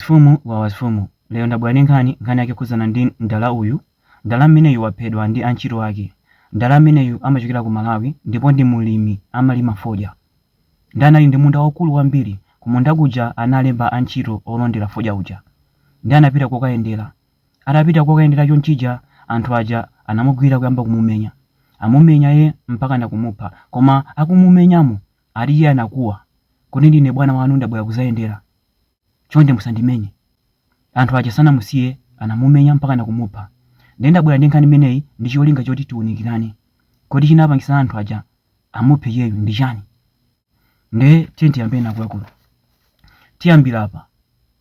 Mfumu wawa mfumu lero ndabwera ndi nkhani, nkhani yake yokhudzana ndi mdala uyu, mdala ameneyu waphedwa ndi antchito ake, mdala ameneyu amachokera ku Malawi ndipo ndi mulimi amalima fodya nde anali ndi munda waukulu kwambiri, kumunda kuja analemba antchito olondera fodya uja nde anapita kokayendera, atapita kokayendera chonchija anthu aja anamugwira kuyamba kumumenya, amumenya iye mpakana kumupha koma akumumenyamo ati iye anakuwa kuti ndine bwana wanu ndabwera kuzayendera. chonde musandimenye. Anthu aja sanamusiye anamumenya mpakana kumupha. Nde ndabwera ndi nkhani imeneyi ndi cholinga choti tiunikirane. Kodi chinapangisa anthu aja amuphe iyeyu ndi chani? Nde tiyeni tiyambeni akuluakulu. Tiyambira apa.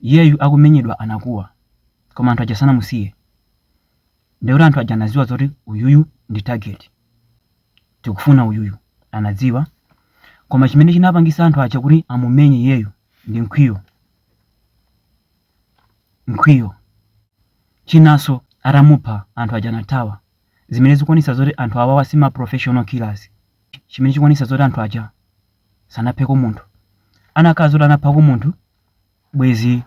Iyeyu akumenyedwa anakuwa. Koma anthu aja sanamusiye. Ndekuti anthu aja anaziwa zoti uyuyu ndi target. tikufuna uyuyu anadziwa koma chimene chinapangisa anthu aja kuti amumenye iyeyu ndi mkwiyo mkwiyo chinanso atamupha anthu aja anathawa zimene zikuonesa zoti anthu awawa si ma professional killers chimene chikuonesa zoti anthu aja sanapheko munthu anakhala zoti anaphako munthu bwezi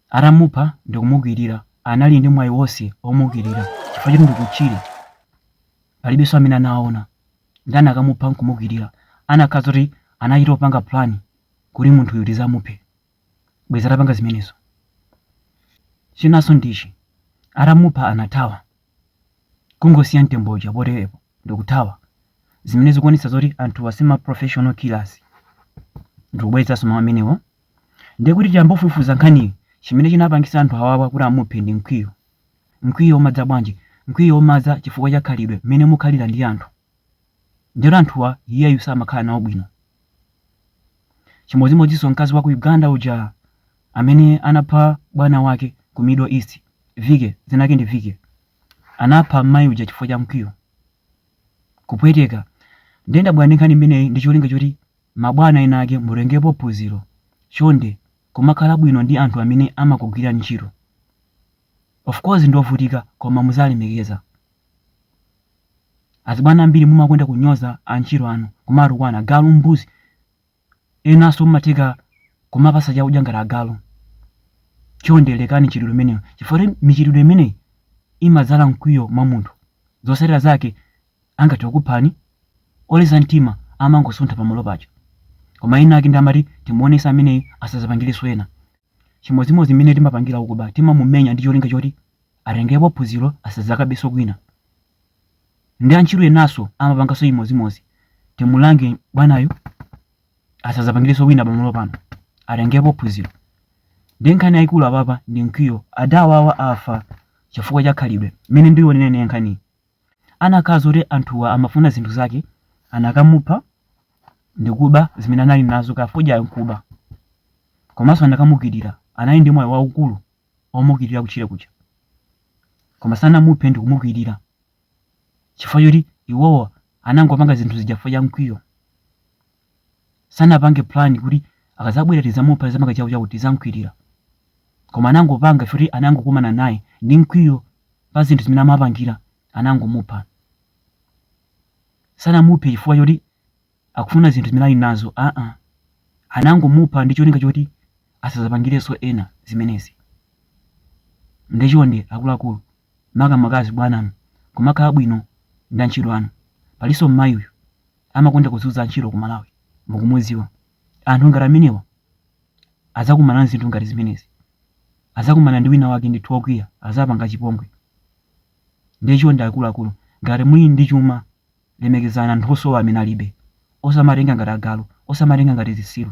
atamupha ndikumugwirira anali ndi mwayi wonse omugwirira chifukwa choti ndi kutchire palibenso amene anawaona nde anakamupha nkumugwirira anakhala zoti anachita opanga plan kuti munthuyu tizamuphe bwezi atapanga zimenezo chinanso ndichi atamupha anathawa kungosiya mtembo uja poteropo ndikuthawa zimene zikuonetsa zoti anthuwa si ma professional killers ndikubweretsanso mawu amenewo ndiye kuti tiyambofufuza nkhaniyi chimene chinapangisa anthu awawa kuti amuphe ndi mkwiyo Mkwiyo umadza bwanji? Mkwiyo umadza chifukwa cha khalidwe mmene mukhalira ndi anthu. Ndiyeno anthuwa iyeyu samakhala nawo bwino. Chimodzimodzinso mkazi wa ku Uganda uja amene anapha bwana wake ku Middle East, Vicky, dzina lake ndi Vicky. Anapha m'mayi uja chifukwa cha mkwiyo. Kupweteka. Ndiye ndabwera ndi nkhani imeneyi ndi cholinga choti mabwana ena ake mutengepo phunziro. Chonde, kumakhala bwino ndi anthu amene amakugwirirani ntchito. Of course ndiovutika koma muziwalemekeza. Azibwana ambiri mumakonda kunyoza antchito anu, kumawatukwana, agalu, mbuzi. Enanso mumatheka kumawapatsa chakudya ngati agalu. Chonde lekani mchitidwe umenewu chifukwa choti michitidwe imeneyi imadzala mkwiyo mwa munthu. Zotsatira zake angathe kukuphani? Oleza mtima amangosuntha pamalo paja. Koma ena ake ndiye amati timuonese ameneyi asazapangilenso ena. Chimodzimodzi mmene timapangira okuba timamumenya ndi cholinga choti atengepo phunziro asazakabenso kwina. Ndi antchito enanso amapanganso chimodzimodzi. Timulange bwanayu asazapangilenso wina pamalo pano. Atengepo phunziro. Ndiye nkhani yayikulu apapa ndi mkwiyo. Adawawa afa chifukwa cha khalidwe. Mmene ndiyionera ineyo nkhaniyi. anakhala zoti anthuwa amafuna zinthu zake anakamupha ndikuba zimene anali nazo kaya fodyayo nkuba komanso anakamukwirira anali ndi mwayi waukulu omukwirira kutchire kuja koma sanamuphe ndikumukwirira chifukwa choti iwowo anangopanga zinthu zija chifukwa cha mkwiyo sanapange plan kuti akazabwera tizamupha tizamuika chakuti chakuti tizamkwirira koma anangopanga chifukwa choti anangokumana naye ndi mkwiyo pa zinthu zimene amapangira anangomupha sanamuphe chifukwa choti akufuna zinthu zimene ali nazo aa anangomupha ndi cholinga choti asazapangirenso ena zimenezi nde chonde akuluakulu makamaka azibwananu kumakhala bwino ndi antchito anu palinso mmayi uyu amakonda kuzunza antchito ku malawi mukumudziwa anthu ngati amenewa adzakumana nzinthu ngati zimenezi adzakumana ndi wina wake ndithu wokwiya adzapanga chipongwe ndiye chonde akuluakulu ngati muli ndi chuma lemekezani anthu osowa amene alibe osamatenga ngati agalu osamatenga ngati zisilu